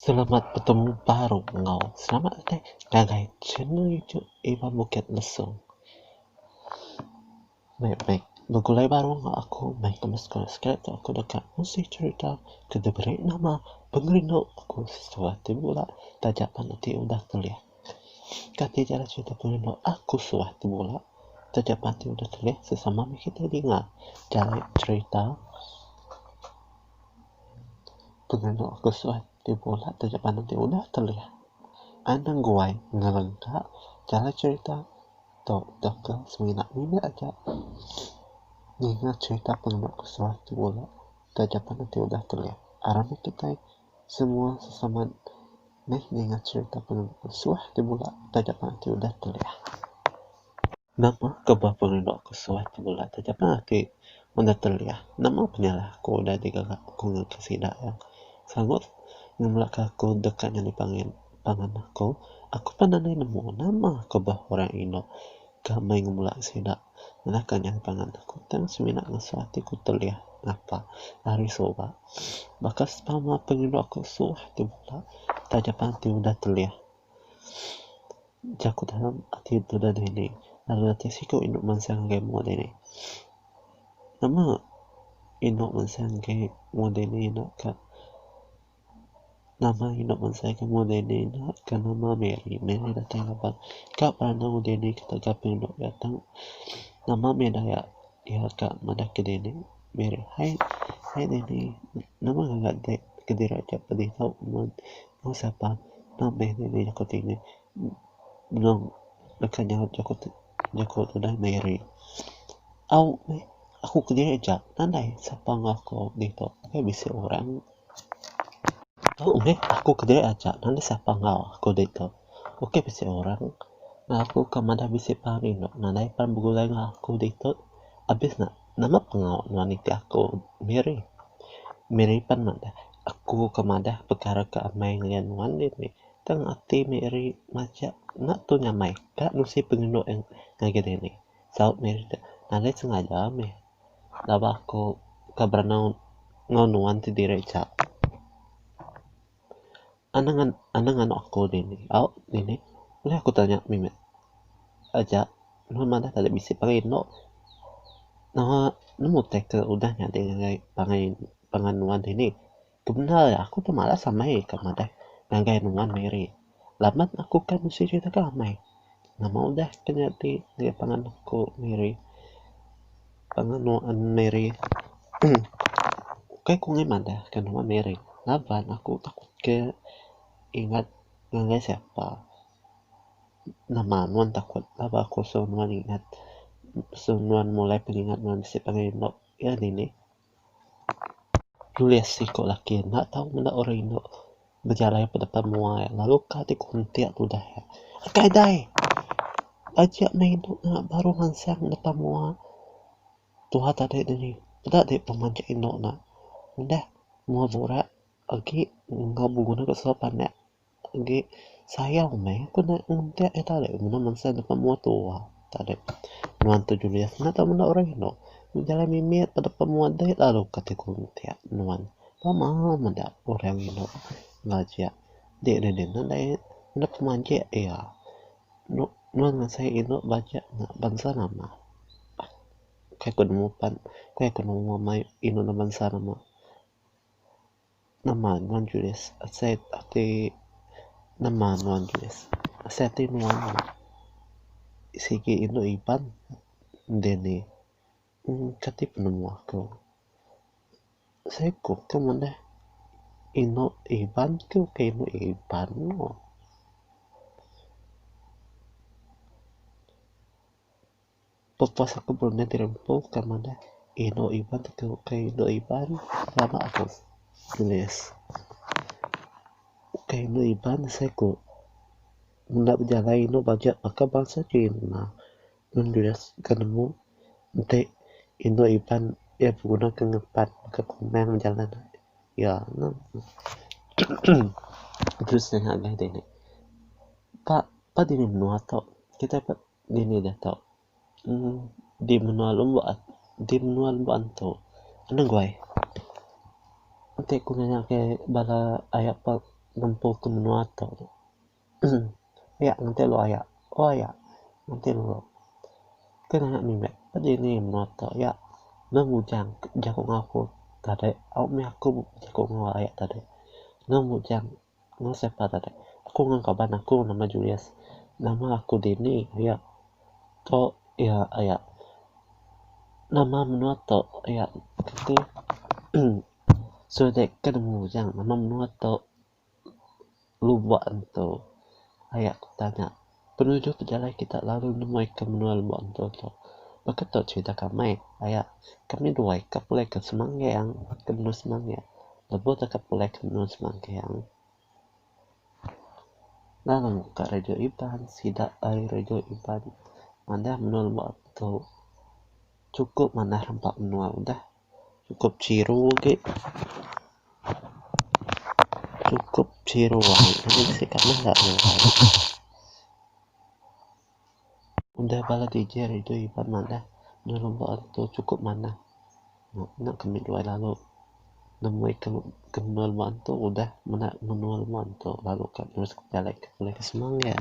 Selamat betemu baru enggau selamat utai ngagai channel YouTube Iban Bukit Mesong. Meh meh begulai baru enggau aku meh ke subscribe tu aku deka ngusih cerita ke diberi nama Pengerindu Aku Sesuai ti bula taja pan enti udah kelih. Kati chara cerita pengerindu aku sesuai ti bula taja pan enti udah kelih sesama meh kitai dinga jari cerita. Pengelo aku suan ti bula taja panen ti udah telih anang guai ngelan ka jalai cherita tu dok ka semina mene aja ngena cherita pengelo aku suan ti bula taja panen ti udah telih aram agi kitai semua sesama meh ngena cherita pengelo aku suan ti bula taja panen ti udah telih. Nama ke bah pengelok ke suah ti bela taja pan ati udah teliah nama penyalah aku udah digera aku ngagai sida yang sangut ngemela ke aku deka nyadi pangan pangan aku aku pan nadai nemu nama ke bah orang inu ke mei ngemela sida ngena ke nyadi pangan aku tang semina ngesuah ati ku teliah ngapa hari suba baka sempama pengelok ke suah ti bela taja pan ati udah teliah. Jaku dalam ati tudah dini. Lalu ati siku inu mansang ngagai umbu dini. Nama inu mansang ngagai umbu dini enda ka nama inu mansang ngagai umbu dini enda ka nama Mary. Mary datai laban ka beranang umbu dini ka taga pengeredu iya tu. Nama mih daya iya ka madah ke dini. Mary, hai dini nama ngaga dek kediri aja pedih tau. Mung sapa enda meh nini jaku ti nya benung deka nyaut jaku ti jaku tudah meh iri. Au meh aku kediri aja nadai sapa enggau aku ditu ukai bisi orang. Au meh aku kediri aja nadai sapa enggau aku ditu ukai bisi orang. Aku ka madah bisi pang rindu nadai pan begulai enggau aku ditu abis ne. Nama pengawa nuan nitih aku, Mary? Mary pan madah, Aku ke madah pekara ke amai ngayan nuan dih mih. Tang ati Mary majak enda tu nyamai ka nusi pengelu eh ngagai diri. Saut Mary deh, Nadai sengaja mih laban aku ke berenung enggau nuan ti diri jak. Anang anang anu aku dini au dini buleh aku tanya mimit aja nehen madah tadi bisi pangai indu nengah nemu utai ke udah nyadi ngagai pangai pangan nuan dini. Ke bendar aku tu malas amai ke madah ngagai nuan miri. Laban aku kai bisi diri deka amai. Nama udah ke nyadi ngagai pangan aku Miri. Pangan nuan Miri uhh kai ku ngei madah ke nuan Miri laban aku takut ke ingat ngagai siapa. Nama nuan takut laban aku suruh nuan ingat. Suruh nuan mulai pengingat nuan bisi pangan indu iya dini. Nulis siku laki enda tau meda orang indu bejalai ke depan mua iya lalu ka ti kuntik tudah iya. Engkai dai aja anang indu nya baru mansang depan mua tuha tadi dini peda dei penguman aja indu nya. Udah mua burak agi enggau beguna ka suba panak. agi sayang meh ku neh ngentek ita deh mene bangsa enda pa mua tuwa ita deh nuan tu julius enda tau menda orang eno meh jalai mimit pa deka mua deh lalu ka ti ku ngentek nuan pama meda orang eno ngajak dik deh deh enda deh enda ku majek iya nuan ngasi eno bajak nya bangsa nama kai ku nemu pan kai ku nemu mayuh eno ne bangsa nama. Nama nuan Julius? Asai ati Nama nuan Julius? Asai ati nuan sigi indu Iban indi ni kati penemu aku. Seiku ke ngundah indu Iban ke ukai indu Iban mu. Pepuas aku berunding ti rempu ke madah indu Iban ti tau ukai indu Iban lama aku nulis. Ukai indu Iban asai ku menda bejalai indu bajak baka bansa Chin ngena nun nulis ke nemu enti indu Iban iya beguna ke ngempat ke komeng bejalan iya neh terus senggagai dini. Pak dini menua tu kitai Dini deh tau. Di menua lembok ati. Di menua lembok antu. Anang guai. Enti aku nanya ke bala aya pa ngempu ke menua tu. Aya ngenti lu aya. Oh aya. Ngenti lu. Ke nanya mimit. Ke dini menua tu aya. Meng Ujang jaku enggau aku tadi. Au mih aku jaku enggau aya tadi. Meng Ujang. Enggau siapa tadi? Aku enggau kaban aku nama Julius. Nama aku dini yak to yak yak nama menua to yak ti uhh seduai ke nemu ujan nama menua to lubok entu yak tanya. Penuju pejalai kita lalu nemuika menua lembok entu tu. Baka tu cherita kami, aya kami dua ika pulai ke Semanggeng ke menua Semanggeng lebuh teka pulai ke menua Semanggeng lalu muka radio Iban sida ari radio Iban manah menua lembok entu chukup manah rampa menua udah. Cukup chiru agi. Cukup chiru agi. Enti bisi ka meh enda nengah agi. Udah bala DJ rindu Iban madah enda lubok agi tu cukup manah. Nya ke meh tuai lalu nemui ke ke menua lubok antu udah menda menua lubok antu lalu ka terus ke pejalai ke semang nya.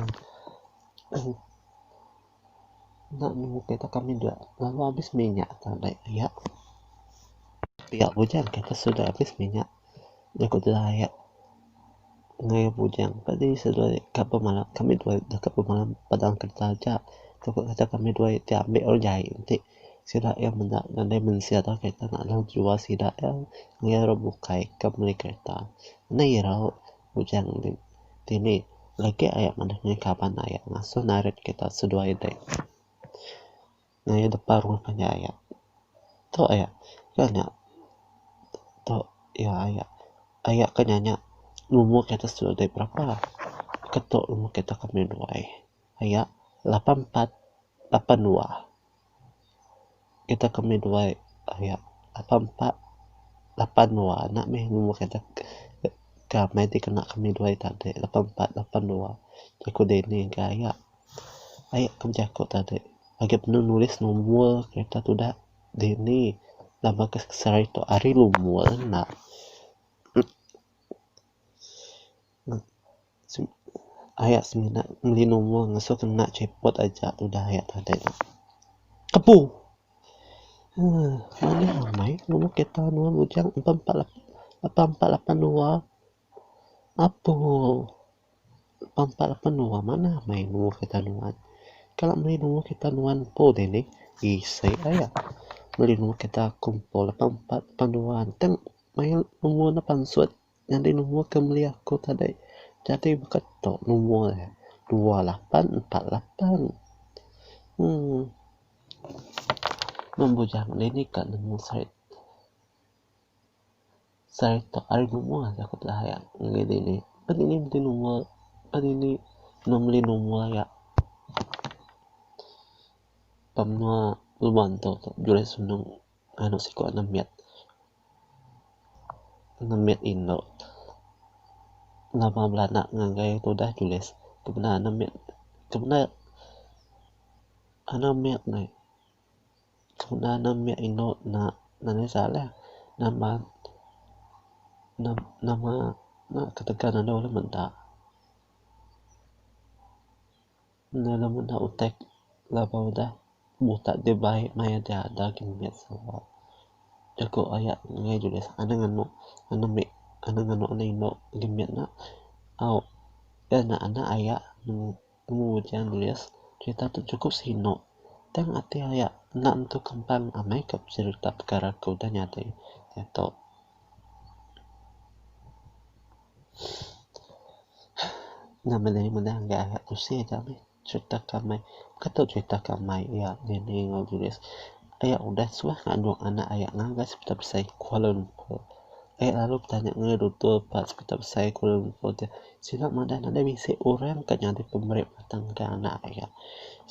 Enda nemu kereta kami dua lalu habis minyak tau naik pia. Pia bujang kereta sudah habis minyak jaku tudah aya nengaya bujang tadi sudah ka pemalam kami dua ida ka pemalam padang kereta aja tu ka kereta kami dua ti ambi orang jai ti sida iya menda nadai mensia tau kereta nadai jual sida iya nengaya orang bukai ka meli kereta. Enda irau Bujang enti dini legi aya manah nya kaban aya ngasuh narit kita seduai dek. Ngaya depa rumah panjai aya. Tu aya ka nya tu iya aya aya ka nya nya numur kita seduai dek berapa keto numur kita ka meruai aya lapan empat lapan dua. Kita ke meh duai aya lapan empat lapan dua enda meh numur adat ke meh ti kena kami duai tadi lapan empat lapan dua jaku dini ke aya aya ke bejaku tadi agi panu nulis numur kereta tuda dini nama ke seri tu ari numur enda. Ayak semina meli numur ngesu kena chepot aja udah ayak tadek tu. Kepu uhh manih amai numur kereta nuan bujang empat empat lapan lapan empat lapan dua apu lapan empat lapan dua manah amai numur kereta nuan. Kala meli numur kereta nuan empu dini isi ayak meli numur kereta aku empu lapan empat lapan dua tang mail numur ne pansut. Nyadi numbur ke meli aku tadi jadi baka tu numbur ne dua lapan empat lapan uhh numbur jang nih nih ka nemu sait sait tu ari numbur aja ku bela aya ngini dini pa dini meti numbur pa dini meh meli numbur aya pa menua lubang tu juai sunung. anu siku anu mit anu mit indu nama bala anak ngagai tudah tulis ke benda anu mit ke benda anu mit neh ke benda anu mit indu ena nanih salah nama nama ketegal andu menda. Enda la meda utai laban udah mutak deh baik maya deh ada gin mit sawa jaku aya nengah julis anang anu anang mit anang anu anak inu agi mit nya au dah nya anak aya temu ujan julis serita tu cukup sinu tang ati aya enda nentu kempang amai ka peserita pekara ke udah nyadi diatu. Nya mene mene ga usi ga meh cerita ke amai ke tu cerita ke amai iya dini enggau diri iya udah suah ngandung anak iya ngagai sepetu besai kuala lumpur iya lalu betanya ngan doktor ba sepetu besai kuala lumpur ti sida madah enda bisi orang ke nyadi pemeri mata ngagai anak iya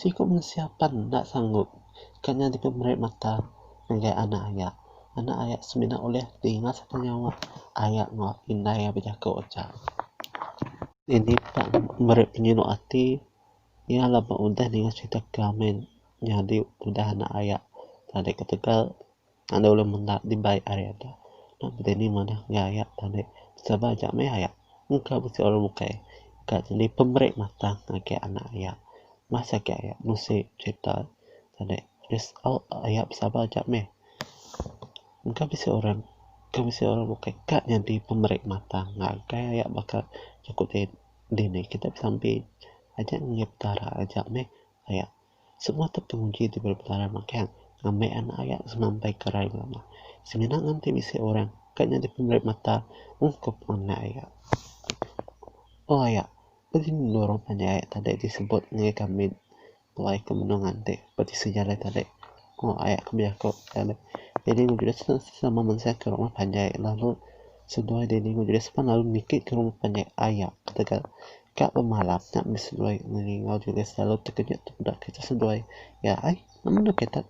siku mensia pan enda sanggup ke nyadi pemeri mata ngagai anak iya. Anak aya semina ulih ninga sereta nyawa aya enggau indai iya bejaku aja. Iya nipak meri penyinu ati iya la ba udah ninga serita Carmen nyadi udah anak aya tadi ketegal enda ulih menda dibai ari enda nya udah dini manah enggau aya tadi sabar aja meh aya engka bisi orang bukai ka nyadi pemeri mata ngagai anak aya masa agi aya nusi serita tadi. Result aya besabar aja meh. Engka bisi orang, engka bisi orang bukai ka nyadi pemeri mata ngagai aya baka aku ti dini kita bisampi aja ngumit petara aja meh aya semua tu penguji diberi petara makai ne ngambi anak aya semampai karai bala ne. Semina nganti bisi orang ka nyadi pemeri mata ungkup anak aya. Pak aya pun nurung panjai aya tadi disebut ngagai kami. Tuai ke menung nganti peti sejalai tadi ko aya ke bejaku lalu Dini ngan Julius tu sama mensia ke rumah panjai lalu seduai Dini ngan Julius pan lalu niki ke rumah panjai aya ketegal ka pemalam nya meh seduai ngelingau Julius lalu tekejut tepeda kitai seduai iya ai amun dau kitai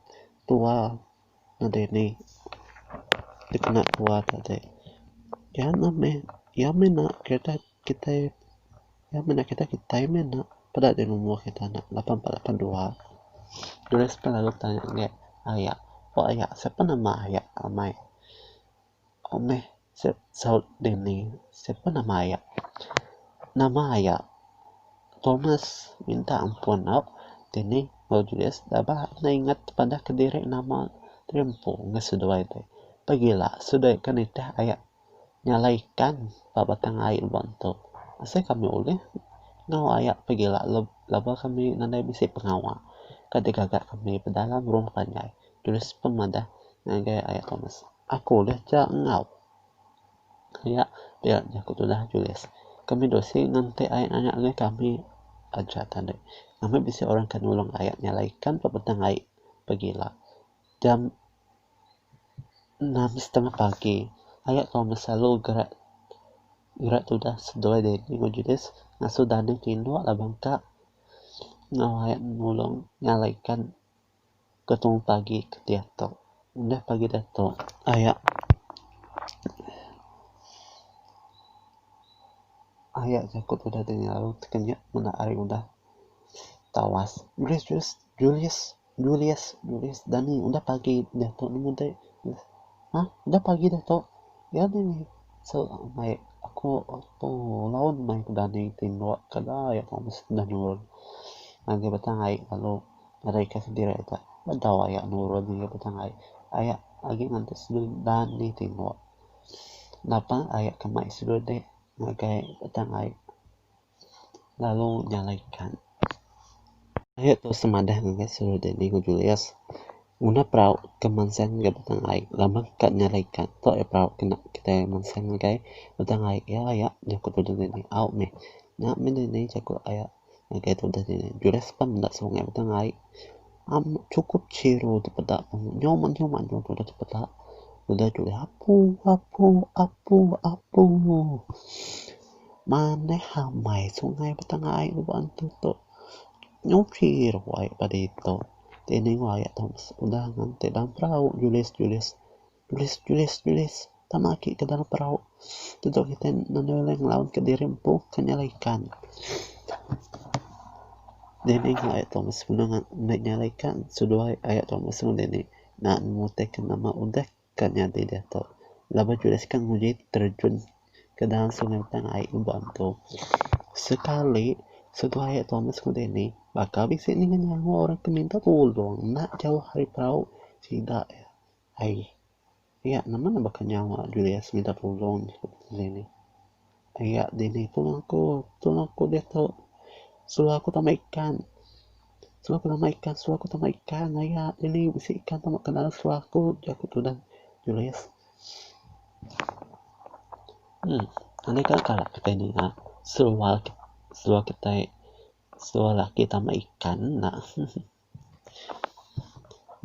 tua nadai ni dikena keluar ka dek iya meh meh iya meh nak kereta kitai iya meh nak kereta kitai meh nak peda deh numur kereta nak lapan empat lapan dua dulu selalu tanya dek aya pok aya sapa nama aya amai. Au meh sep saut dini sepa nama iya. Nama iya Thomas minta ampun au dini au Julius da ba na ingat padah kediri nama diri empu ngah seduai ti. Pagila seduai ka nitih aya nyalai ikan ba batang ai uban tu. Asai kami ulih enggau aya pagila laban kami nadai bisi pengawa ka digaga kami pedalam ruang panjai. Julius pun madah ngagai aya Thomas. Aku ulih cha enggau. Nya dia jaku tudah Julius. Kami dua sik nganti ayat anak enggui kami aja tadi. Ngambi bisi orang ke nulung ayat nya alai ikan pa petang ai pegila. Jam enam setengah pagi ayat tau besalu gerak gerak tudah seduai Danny enggau Julius ngasuh Danny tinduk laban ka enggau ayat nulung nya alai ikan. Ketung pagi ke diatu. Udah pagi diatu aya aya jaku tu udah dinga lalu tekenyit menda hari udah tawas. Julius Julius Julius Julius dani udah pagi diatu nemu deh. Ha udah pagi diatu. Iya deh so mai aku tu laun mai ku dani ti mbuak ke dau yak mesti nurun. Ngagai betang ai lalu Nadai ka sendiri ita ba dau aya nurun ngagai petang ai. Aya agi nganti sendiri dan dih tinggu. Napa aya ke mai sendiri dih ngagai petang ai lalu nyalai kan. Aya tu semadah ngagai sendiri dih Ningu Julius nguna perau ke mansang ngagai petang ai laban ka nyalai kan. Tu aya perau ke enda kitai mansang ngagai petang ai. Iya aya nyau ke tudung dini au mih. Nya mih dini jaku aya. Ngagai tu udah dini, Julius pan enda sungai baka ngai. Am chukup chiro ti peda nyoma nyoma nya tu udah dipeda. Udah Julius apu apu apu apu. Manah amai sungai baka ngai nya baan tu tok. Nyau chiro ai padi tok. Ti ning wayah tok udah nganti dalam perau Julius Julius. Tulis, tulis, tulis. Tama aki ke dalam perau. Tentu kitai mandai ulih ngelaun ke diri empu ke nyala ikan. Dini ngah ayat tuan mesem nang enda nyala ikan seduai ayat tuan mesem dini naan mutih ke nama udah ke nyadi diatu. Laban tulis ke nguji terjun ke dalam sungai tang ai ngembu antu. Sekali seduai ayat tuan mesem dini baka bisi ninga nyawa orang ke minta tulung enda jauh ari perau sida iya. Ai. Yak nama ne baka nyawa Julia semida pulong nya ku Beteli nih. Yak dini tulong aku, tulong aku diatu. Suruh aku tama ikan. Suruh aku tama ikan, suruh aku tama ikan. Aya dini bisi ikan tama ke dalam seluah aku, ujar aku tudah Julia. Emm. Anu ika kala kitai ninga seluah, seluah kitai, seluah laki tama ikan enda.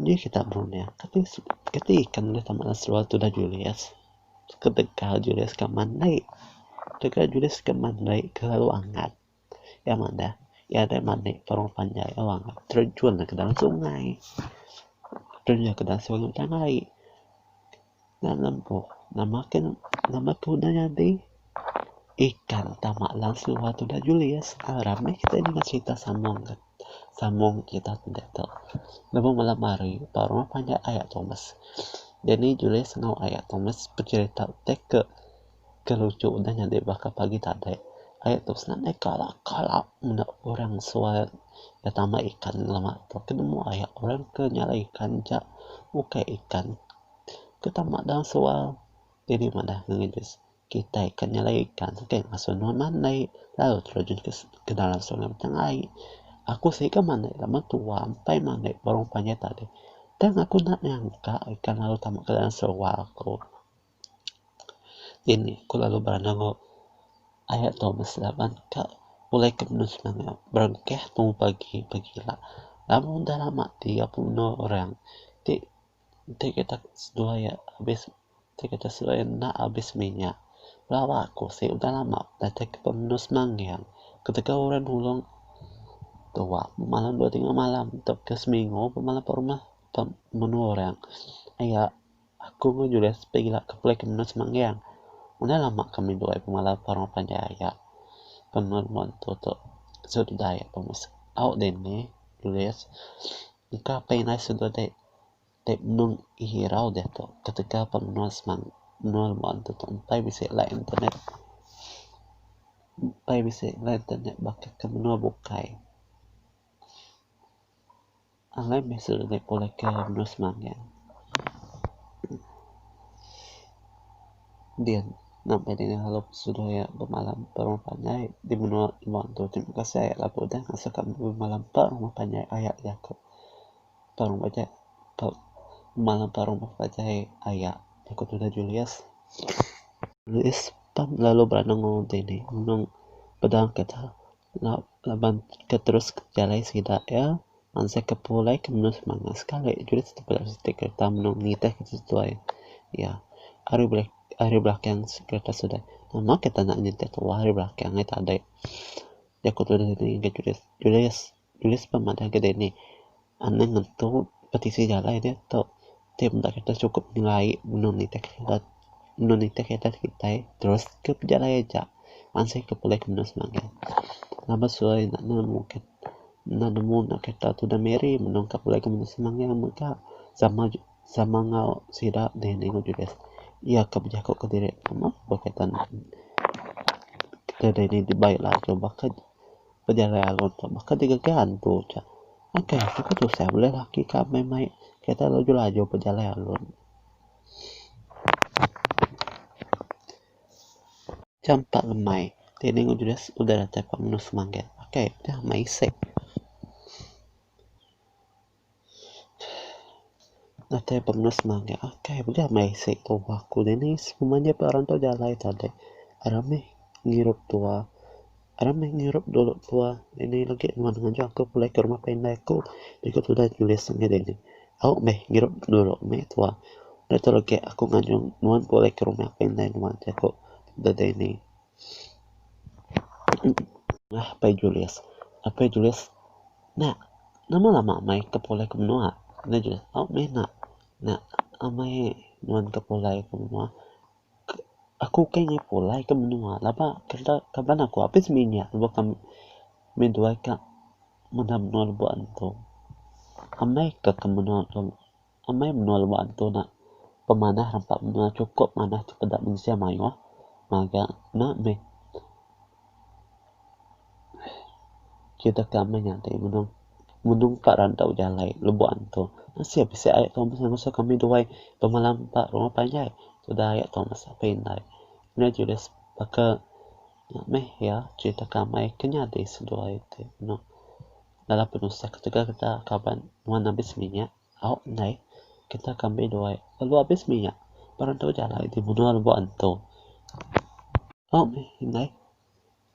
Nya ke tabu nya kati ikan da tama da seluar tu da julis ketegal julis ka mandai tegal julis ka mandai kelalu angat iya manah iya deh manik terong panjai terjun ka dalam sungai terjun ka dalam sungai panai. Nan empu nama ken nama tudah nyadi ikan tama lang suba tudah julis aaa rami kitai nengah serita sambung kat sambung serita sida tu lebuh malam hari ba rumah panjai aya Thomas Dany julis enggau aya Thomas beserita teka. Ke lucu udah nyadi baka pagi tadi aye tu senanai kala kala menda orang sual ke tambah ikan lema tu ke nemu aye orang ke nyalai ikan ja ukai ikan ke tambah daun sual jadi madah kitai ke nyalai ikan kitai ngasuh nuan manei lalu tau rejun ke dalam sungai mencam ai aku siga manei lama tua empai manei burung panjai tadi tang aku enda nyangka ikan laut tama ke dalam serual ku. Ini ku lalu bala nanggu aya tu beseban ka pulai ke menu sengkang nya berengkah tu pagi pagi ila. Lamun dah lama ti iya pun inu orang ti ti kita seduai iya abis ti kita seduai iya enda abis minya lawa ku si udah lama datai ke pemenu semanggang ketegal orang nulung tuwa malam dua tingu malam tauka seminggu pemalam pemenu orang aya Aku enggau Julius begila ke pulai ke menua Semanggang. Udah lama kami dua pemalau ke orang panjai aya. Pemerun tu tu sut udah aya pemesai. Au dini, Julius, engka apai indai sut udah dek dek menung irau deh tu ketegal ba menua Semang menua Lembuan tu tu empai bisi line internet. Empai bisi line internet baka ke menua bukai. Alai meh sida deka pulihka menua semanga. Din, napi deka ngalu pesuduh iya bemalam empat rumah panjai di menua Iban tu? Terima kasih ayak lagu udah ngasuh kami bemalam empat rumah panjai ayak jaku. Empat rumah panjai empat bemalam empat rumah panjai ayak aku tudah Julius. Julius pan lalu beranang enggau dini nulung pedang kita. Laban ke terus jalai sida iya bansa ke pulai ke menu semangat sekali jurit siti bala siti kereta menung nitih ke sesuai iya ari bulai ari belakang kereta sida nama kita enda nitih tuwa ari belakang ai tadai jaku tulis dini ga tulis tulis tulis pun madah ga dini. Anang ngetu petisi jalai deh tu ti meda kereta sukup nyelai benung nitih kereta benung nitih kereta kitai terus ke pejalai aja ansih ke pulih ke benung semagang. Ngaba suai enda nemu enda nemu enda kereta tu udah miri benung ka pulih ke benung semagang mega sama sama enggau sida deh enda ingut julis iya ka bejaku ke diri pemau ba kereta enda. Kereta dini dibai ila tu baka. Pejalai arum tu baka digaga antu aja. Ngagai aku ke tusah bulih laki ke amai mai kereta laju-laju pejalai arum. Jam empat lemai dini udah udah datai ka menua semanggil. Pakai udah mai isik. Atai pemes maga akai mega meh isi tuha ku dini semua nya pun orang tu jalai tade ramih ngirup tuha ramih ngirup dulu tuha ini legi nuan ngajar aku pulai ke rumah panai ku iku tuda tulis meh dini au meh ngirup dulu meh tuha da tu legi aku ngajung nuan pulai ke rumah panai nuan jaku da dini. Apai Julius, Apai Julius, Nak, nama lama amai ke pulai ke menua? Apai Julius, Au meh nak, nak amai nuan ke pulai ke menua, aku ukai angai pulai ke menua laba kenda kaban aku abis mih nya lebuh kami mih duai ka meda menua lebuh antu. Amai ka ke menua tu. Amai menua lubok antu enda pemanah rampa menua chukup manah cipeda mensia mayuh ngaga enda meh kitak ka meh nyadi menung menung ka randau jalai lubok antu asai bisi air tu meh ngasoh kami duai bemalam ka rumah panjai tuda air tu meh sapai indai nya tulis baka nya meh iya kitak ka meh ke nyadi seduai ti meno dalam penusah ketegal kita kaban nuan abis minyak. Au enggai. Kita ke ambi duai. Lalu abis mih nya. Ba rantau ja alai ti menua lebuh antu. Au mih enggai.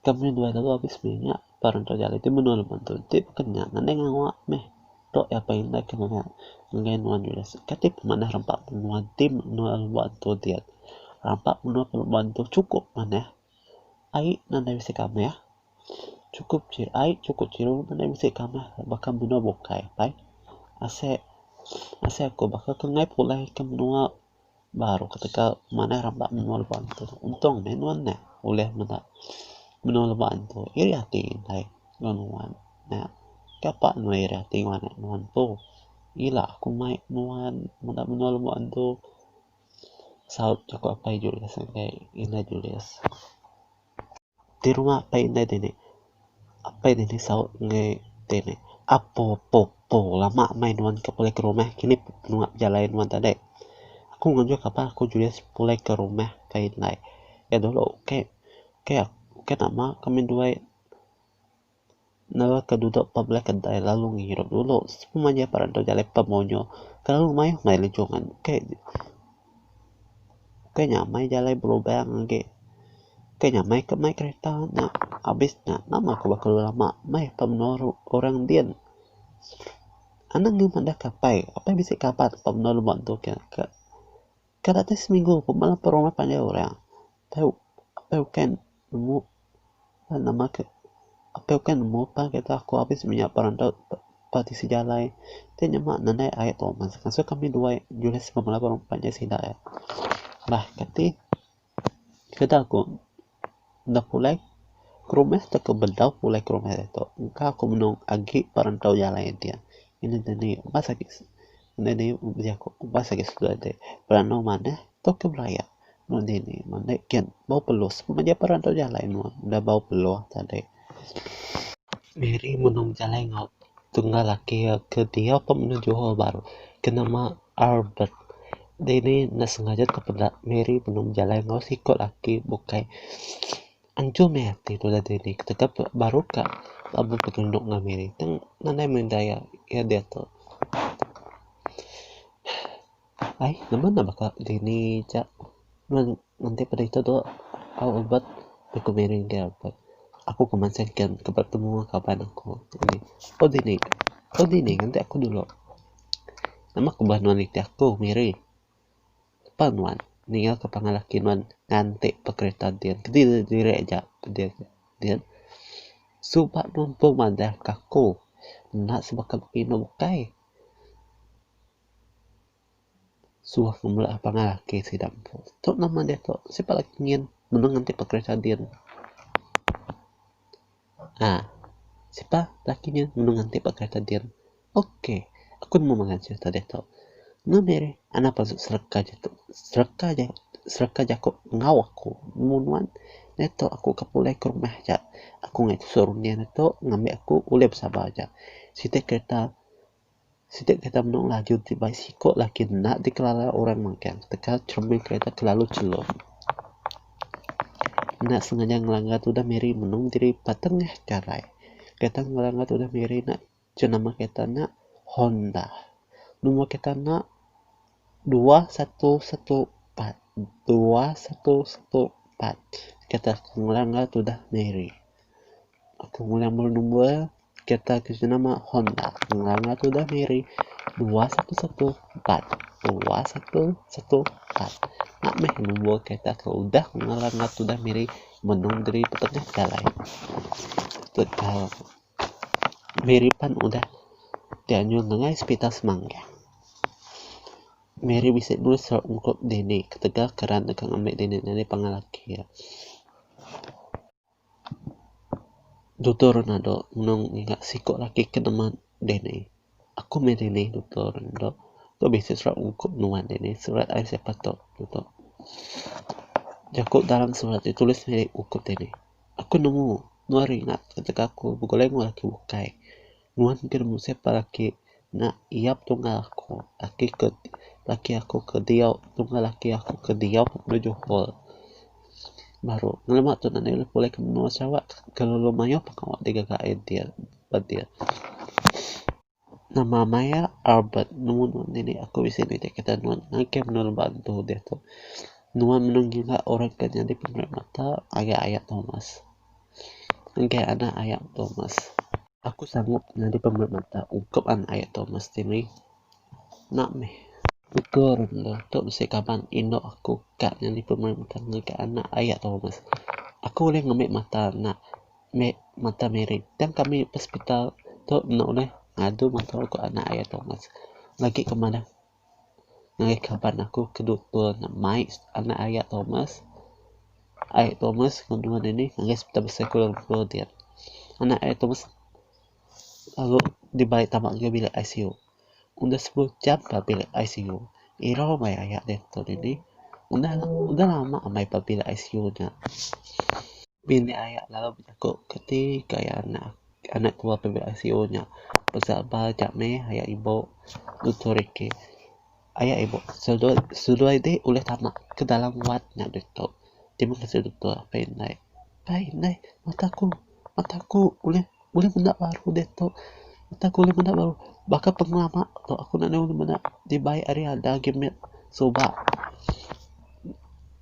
Ke ambi duai lalu abis mih nya. Ba rantau ja alai ti menua lebuh antu. Enti beken nya ngandai ngawa mih. Tu iya pagi ndai ke ngagai ngagai nuan Julius. Engka ti pun manah rampa menua ti menua lebuh antu diat. Rampa menua lebuh antu chukup manah. Ai nadai bisi kamih. Chukup chi ai chukup chiru nadai bisi kamih baka menua bukai pai. Asai asai aku baka ke ngai pulai ke menua baru ketegal aku manah ra ba menua leba ntu. Untung meh nuan neh ulih meda menua leba ntu. Iri ati indai nuan nuan nya. Ka pa nuan iri ati ngagai nuan ntu. Ila aku mai nuan meda menua leba ntu. saut jaku apai Julius ngagai inda Julius. Ti rumah apai inda dini, apai dini saut ngagai ti ne, apo po po lama meh nuan ke pulih ke rumah kini binua bejalai nuan tadi. Aku ngejah ke apai aku Julius pulih ke rumah ke indai. Ke dulu ke ke ke nama kami duai. neraka dudok ba belah kedai lalu ngirup dulu sepemua nya parak dudok jalai pub munyu kelalu mayuh meri lejong ngan kai kai nyamai jalai belubang agi kai nyamai ke mai kereta nya abis nya nama ke baka lu lama meh ke menua ru orang din anang inya meda ke apai apai bisi kaban ke menua lema tu ke kada tei seminggu pun bala peronda panggil orang Tau apai ukai nemu ba nama ke apai ukai nemu pa kita aku abis maya perantau pa tisi jalai ti nyema nandai ai Thomas ngasuh kami duai Julius enggau bala orang pan nya sida ai bah kati sida ku enda pulai ke rumah tau ke bedau pulai ke rumah ditu engka ku menung agi perantau jalai dia inu dini bas agi inu dini uji aku bas agi sekula ti beranau manah tau ke beraya. Nuan dini mende kian bau peluh sebab maja peran tau jalai nuan udah bau peluh tadi. Miri menu bejalai enggau tunggal laki iya ke diau ka mene Johor Bahru ke nama Albert. Dini ne sengaja tepeda Miri menu bejalai enggau siko laki bukai anjung mih ati tudah dini tauka baru ka lalu betunok enggau Miri tang nadai menda iya diatu. Ai, nama enda baka dini ja meng enti peda ito tuo au ubat nya ku Mary enggai ubat. Aku ke mansang engken ke betemu kaban aku dini. Ko dini, ko dini nganti aku dulu. Nama ku beh nuan nitih aku Mary. Pa nuan ninga ke pangan laki nuan nganti pa kereta din. Kidi diri aja din din. Suba nuan pun madah ka aku enda sebaka pinu bukai. Suah ke mele pangan ake sida empu. Tu nama diatu sipak lagi nyin meneng enti pekerja din aaa sipak laki nyin meneng enti pekerja din ok aku nemu mega serita diatu mung diri anak pasu sereka diatu sereka ja sereka jaku enggau aku nemu nuan diatu aku ke pulih ke rumah aja aku ngai tusau runding diatu ngambi aku ulih besabar aja siti kereta Sida kereta menu laju ti bai siko laki enda dikelala orang magang teka cermin kereta kelalu chelo. Enda sengaja ngelanggar tudah miri menung diri patengah karai. Kereta ngelanggar tudah miri nya ceh nama kereta nya Honda. Nombor kereta nya dua satu satu empat dua satu satu empat. Kereta ngelanggar tudah miri. Aku ngulang bala number. Kereta ke jenama Honda. Ngelanga tu dah miri. Dua satu satu empat. Dua satu satu empat. Nak meh nombor kereta ke udah ngelanga tu dah miri. Menung diri petengah jalai. Tegal. Miri pan udah. Dia nyu ngengai sepital semangga. Miri bisi dua serap ungkup dini. Ketegal keran deka ngambil dini. Nani pangalaki. Nani pangalaki. Tutur enda dog nulung mega siko laki ke nama Danny. Aku mih Danny tutur enda dog. Tu bisi surat uko nuan Danny surat ai siapa tok enda tok. Jaku dalam surat ti tulis uko Danny. Aku nemu nuan ringat tega aku begulai enggau laki ukai. Nuan ke nemu siapa laki nya iap tunggal aku laki ke laki aku ke diau tunggal laki aku ke diau ba johor baru ngelamak tu enda ulih pulih ke menua sarawak kelalu mayuh pah kawa ti gaga idea ba dia nama maya albert nemu nuan dini aku bisi nitih aku kata nuan ngagai menua leba tu deh tu nuan mene ngiga orang ke nyadi pemeri mata ngagai aya thomas ngagai anak aya thomas Aku sangup nyadi pemeri mata ungkup anak iya tu mesti mih. Enda mih. Ukur enda tu bisi kaban indu aku ka nyadi pemeri mata ngagai anak iya tu meh. Aku ulih ngambi mata anak me mata Miri tang kami hospital tu enda ulih ngadu mata ku anak iya tu meh. Lagi ke manah. ngagai kaban aku ke doktor ne mai anak iya Thomas, ai Thomas ngebuan ini ngagai Hospital Besai Kuala Lumpur diak. Anak ai Thomas lalu dibai tama ngagai bilik ICU. Udah sepuluh jam ba bilik ICU. Irau meh aya deh tau dini. Udah udah lama meh ba bilik ICU nya. Bini iya lalu bejaku ke ti ke anak. anak tua PBICO nya besabar aja meh aya ibu Doktor Ricky. Aya ibu Sudoi ti ulih tama ke dalam wad nya ditu. Terima kasih Doktor apai indai. Apai indai mata ku mata ku ulih ulih menda baru ditu. Mata ku ulih menda baru. Baka pengelama tu aku enda ulih meda dibai ari anda agi mit suba.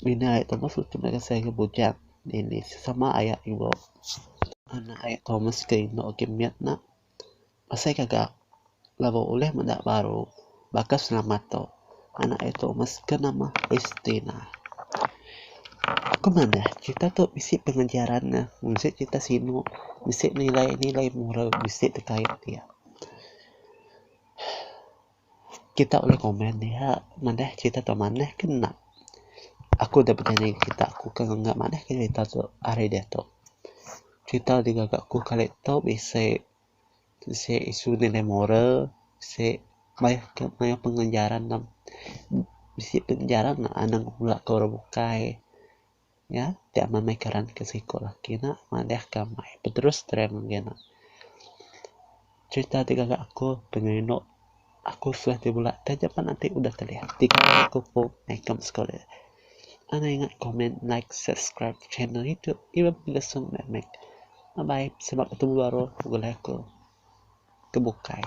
Mina ari tu meh aku bujang. Nini sesama aya indu anak aya Thomas ke indu agi mit ne asai gaga lalu ulih meda baru baka selamat tu anak aya Thomas ke nama Christina. Ku manah crita tu bisi pengajaran ne mung seh crita sinu bisi nilai nilai moral bisi ditaip iya. kita ulih komen diak manah kita tau manah ke enda aku da peda neg kita aku ke mega manah ke kita tu ari diatu kita ti gaga ku kali tu bisi bisi isu nilai moral bisi mayuh ke mayuh pengajaran bisi pengajaran anang bala ke orang bukai. Nya ti amai meh karan ke siko laki ne madeh ke amai peterus tren mungkin ne. Cerita ti gaga aku pengeri eno aku suah ti bela taja pan ati udah teleh tiga hari aku pu ikem sekole. Anang ingat komen like subscribe channel itu iban pengelesong meh meh. Bye bye selamat betemu baru bala ko ke bukai.